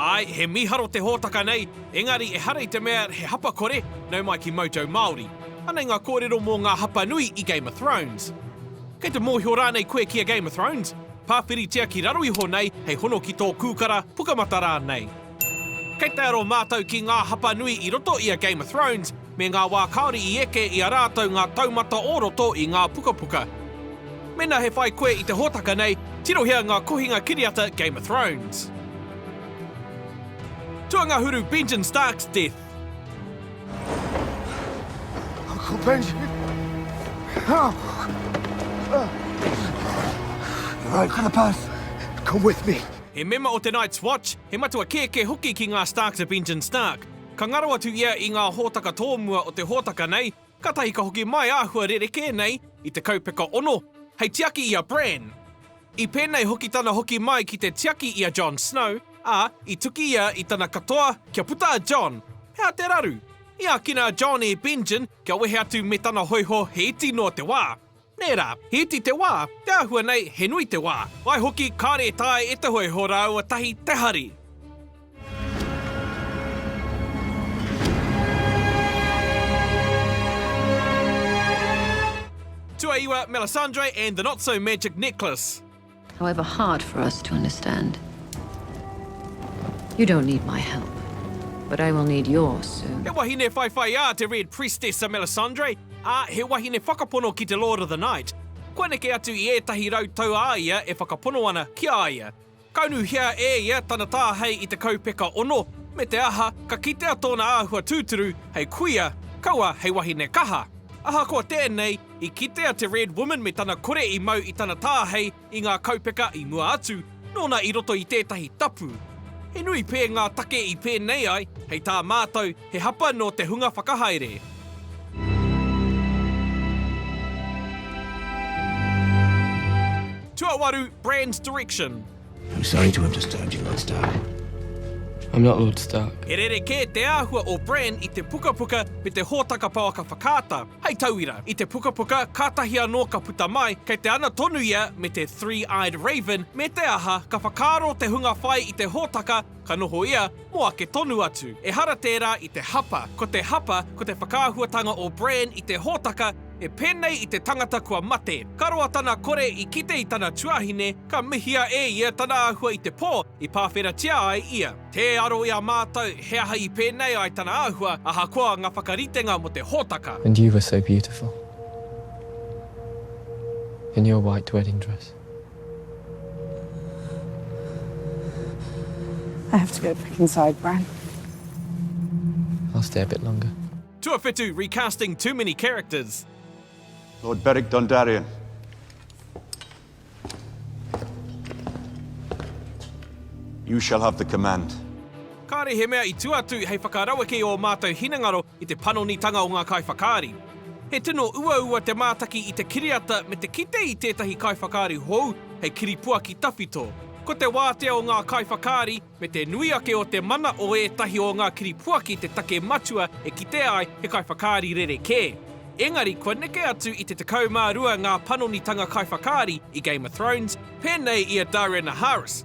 Āe, he mīharo te hōtaka nei, engari ehara i te mea he hapa kore, nau mai ki Mojo Māori. Anei ngā kōrero mō ngā hapa nui i Game of Thrones. Kei te mōhio rānei koe ki a Game of Thrones? Pāwhiritia ki raro iho nei hei hono ki tō kūkara, pukamata rānei. Kei te aro mātou ki ngā hapa nui i roto i a Game of Thrones, me ngā wā kāore i eke i a rātou ngā taumata o roto i ngā pukapuka. Mēnā he whai koe i te hōtaka nei, tirohia ngā kohinga kiriata Game of Thrones. Tuangahuru Benjen Stark's death. Uncle Benjen! You're right for the bus. Come with me. He mema o te Night's Watch, he matua kēkē hoki ki ngā Starks a Benjen Stark. Ka ngaro atu ia i ngā hōtaka tōmua o te hōtaka nei, kātahi ka hoki mai āhua rerekē nei i te kaupeka ono, hei tiaki i a Bran. I pēnei hoki tana hoki mai ki te tiaki i a Jon Snow, ā, i tuki ia i tana katoa kia puta a Jon. He aha te raru? I ākina a Jon e Benjen kia wehe atu me tana hōiho hēti noa te wā. Nē rā, he iti te wā, te āhua nei he nui te wā. Waihoki, kāre e taea e te hōiho rāua tahi te hari. Tuaiwa, Melisandre and the Not So Magic Necklace. However hard for us to understand. You don't need my help, but I will need yours soon. He wahine whaiwhaiā te Red Priestess a Melisandre, ā, he wahine whakapono ki te Lord of the Night. Kua neke atu i ētahi rau tau a ia e whakapono ana ki a ia. Ka unuhia e ia tana tāhei i te kaupeka ono, me te aha, ka kitea tōna āhua tūturu hei kuia, kaua hei wahine kaha. Ahakoa tēnei, I kitea te Red Woman me tana kore i mau i tana tāhei i ngā kaupeka i mua atu, nōna i roto i tētahi tapu. He nui pē ngā take i pēnei ai, hei tā mātou, he hapa nō te hunga whakahaere. Tuawaru, Brand Direction. I'm sorry to have disturbed you, Lord Stark. I'm not Lord Stark. He rerekē te āhua o Bran i te pukapuka me te hōtaka pouaka whakaata. Hei tauira, i te pukapuka kātahi anō ka puta mai, kei te ana tonu ia me te Three-Eyed Raven, me te aha, ka whakaaro te hunga whai i te hōtaka, ka noho ia, Mō ake tonu atu, ehara tērā i te hapa, ko te hapa ko te whakaahuatanga o Bran i te hōtaka e pēnei i te tangata kua mate. Ka roa tana kore i kite i tana tuahine, ka mihia e ia tana āhua i te pō i pāwheratia ai ia. Tē aro i a mātou he aha i pēnei ai tana āhua, ahakoa ngā whakaritenga mō te hōtaka. And you were so beautiful in your white wedding dress. I have to go back inside, Bran. I'll stay a bit longer. Tuawhitu recasting too many characters. Lord Beric Dondarrion. You shall have the command. Kāre he mea i tua atu hei whakaraweke i ō mātou hinengaro i te panonitanga o ngā kaiwhakaari. He tino uaua te mātaki i te kiriata me te kite i tētahi kaiwhakaari hou hei kiripuaki tawhito. Ko te wātea o ngā kaiwhakaari me te nui ake o te mana o ētahi o ngā kiripuaki te take matua e kitea ai he kaiwhakaari rerekē. Engari kua neke atu i te 12 ngā panonitanga kaiwhakaari i Game of Thrones, pēnei i a Darren Harris,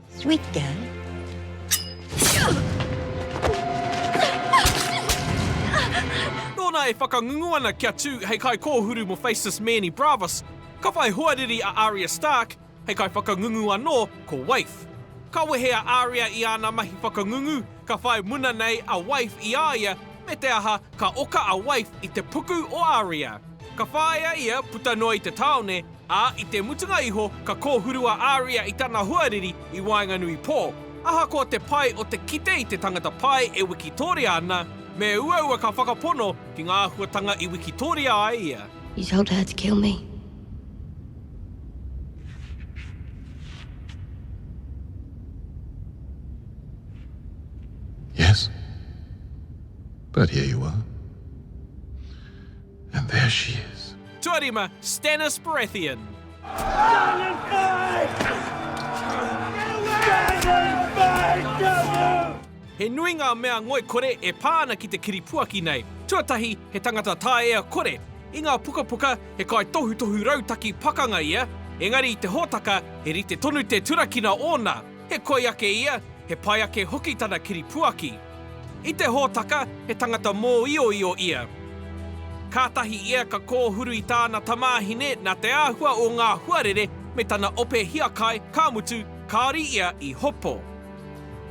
Sweet girl. Nōna e whakangungu ana kia tū hei kaikōhuru mō Faceless Manny Bravas, ka whai hoariri a Arya Stark hei kaiwhakangungu anō ko Waif. Ka wehe a Arya i āna mahi whakangungu, ka whai muna nei a Waif i a ia, me te aha, ka oka a Waif i te puku o Arya. Ka whāia ia puta noa i te tāone, Ā, i te mutunga iho, ka kōhuru a Aria i tana hoariri i waenganui pō. Ahakoa te pai o te kite i te tangata pai e wikitoria ana, me uaua ka whakapono ki ngā āhuatanga i wikitoria ai ia. You told her to kill me. Yes. But here you are. And there she is. Tuarima, Stannis Baratheon. Stannis Baratheon! Stannis Baratheon! He nui ngā mea ngoikore e pā ana ki te kiripuaki nei. Tuatahi, he tangata taea kore. I ngā pukapuka, he kaitohutohu rautaki pakanga ia, engari i te hōtaka, he rite tonu te turakina ōna. He koi ake ia, he pai ake hoki tana kiripuaki. I te hōtaka, he tangata mōioio ia. Kātahi ia ka kōhuru i tāna tamāhine nā te āhua o ngā huarere me tana ope hiakai, ka mutu, kāore ia i hopo.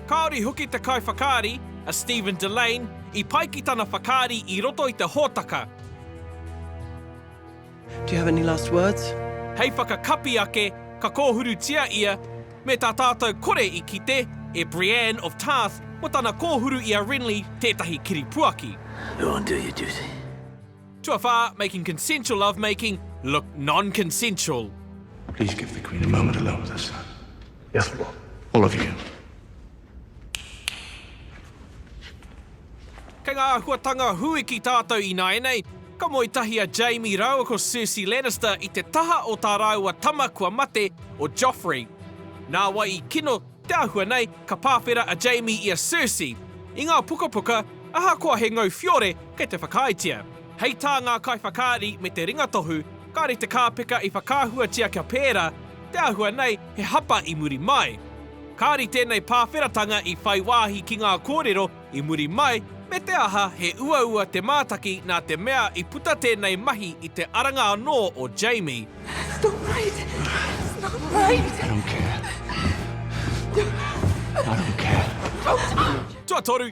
Kāore hoki te kaiwhakaari, a Stephen Delane, i pai ki tana whakaari i roto i te hōtaka. Do you have any last words? Hei whakakapi ake, ka kōhurutia ia, me tā tātou kore i kite e Brienne of Tarth mō tana kōhuru i a Renly tētahi kiripuaki. Go and do your duty. Tuawhā, making consensual lovemaking look non-consensual. Please give the Queen a moment alone with her son. Yes, Lord. All of you. Kei ngā āhuatanga huiki tātou ināianei, ka moe tahi a Jaime rāua ko Cersei Lannister i te taha o tā rāua tama kua mate, o Joffrey. Nā wai i kino te āhua nei, ka pāwhera a Jaime i a Cersei. I ngā pukapuka, ahakoa he ngau whiore kei te whakaaetia. Hei tā ngā kaiwhakaari me te ringatohu, kāore te kāpeka i whakaahuatia kia pērā, te āhua nei he hapa i muri mai. Kāore tēnei pāwheratanga i whai wāhi ki ngā kōrero i muri mai me te aha he uaua te mātaki nā te mea i puta tēnei mahi i te aranga anō o Jamie. Tuatoru,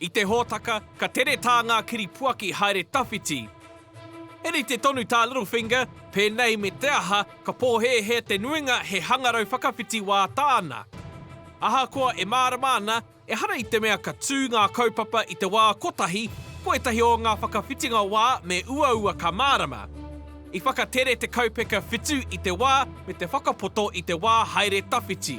I te hōtaka, ka tere tā ngā kiripuaki haere tawhiti. He rite tonu tā Littlefinger, pēnei me te aha, ka pōhēhē te nuinga he hangarau whakawhiti wā tāna. Ahakoa e mārama ana, ehara i te mea ka tū ngā kaupapa i te wā kotahi, ko ētahi o ngā whakawhitinga wā me uaua ka mārama. I whakatere te kaupeka whitu i te wā me te whakapoto i te wā haere tawhiti.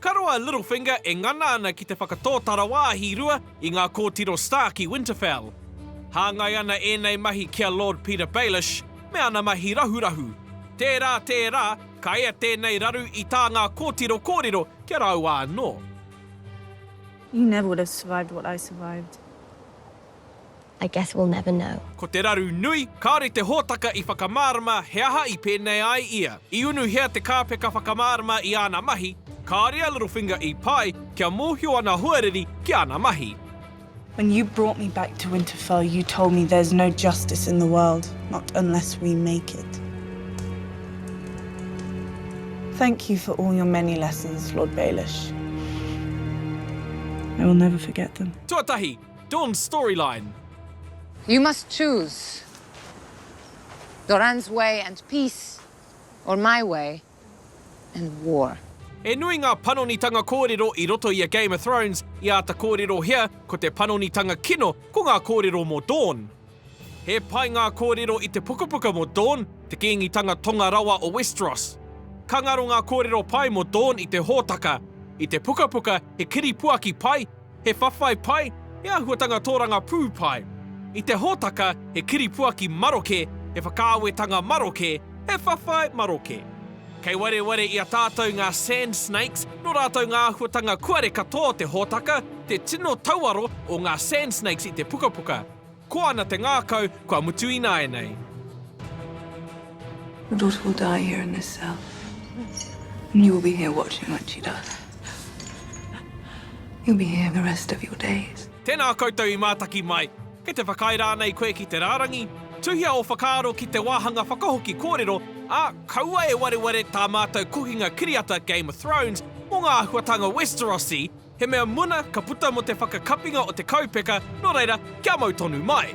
Ka roa Littlefinger e ngana ana ki te whakatōtara wāhi rua i ngā kōtiro Stark i Winterfell. Hāngai ana ēnei mahi ki a Lord Petyr Baelish me ana mahi rahurahu. Tērā, tērā, ka ea tēnei raru i tā ngā kōtiro kōrero ki a rāua anō. You never would have survived what I survived. I guess we'll never know. Ko te raru nui, kāore te hōtaka i whakamārama he aha i pēnei ai ia. I unuhia te kāpeka whakamārama i āna mahi, kāore a Littlefinger i pai kia mōhio ana hoariri ki āna mahi. When you brought me back to Winterfell you told me there's no justice in the world, not unless we make it. Thank you for all your many lessons, Lord Baelish. I will never forget them. Tuatahi, Dawn's storyline. You must choose Doran's way and peace or my way and war. He nui ngā panonitanga kōrero i roto i a Game of Thrones, i āta kōrerohia ko te panonitanga kino ko ngā kōrero mō Dawn. He pai ngā kōrero i te pukapuka mō Dorne, te kīngitanga tonga rawa o Westeros. Ka ngaro ngā kōrero pai mō Dorne i te hōtaka, i te pukapuka he kiripuaki pai, he whawhai pai, he āhuatanga tōrangapū pai. I te hōtaka he kiripuaki maroke, he whakaawetanga maroke, he whawhai maroke. Kei wareware i a tātou ngā Sand Snakes, nō rātou ngā āhuatanga kuare katoa o te hōtaka, te tino tauaro o ngā Sand Snakes i te pukapuka. Ko ana te ngākau, kua mutu ināianei. Your daughter will die here in this cell. And you will be here watching when she does. You'll be here the rest of your days. Tēnā koutou i mātaki mai. Kei te whakaae rānei koe ki te rārangi? Tuhia ō whakaaro ki te wāhanga whakahoki kōrero, ā, kaua e wareware tā mātou kohinga kiriata Game of Thrones mō ngā āhuatanga Westerosi, He mea muna ka puta mo te whakakapinga o te kaupeka, no reira, kia mau tonu mai.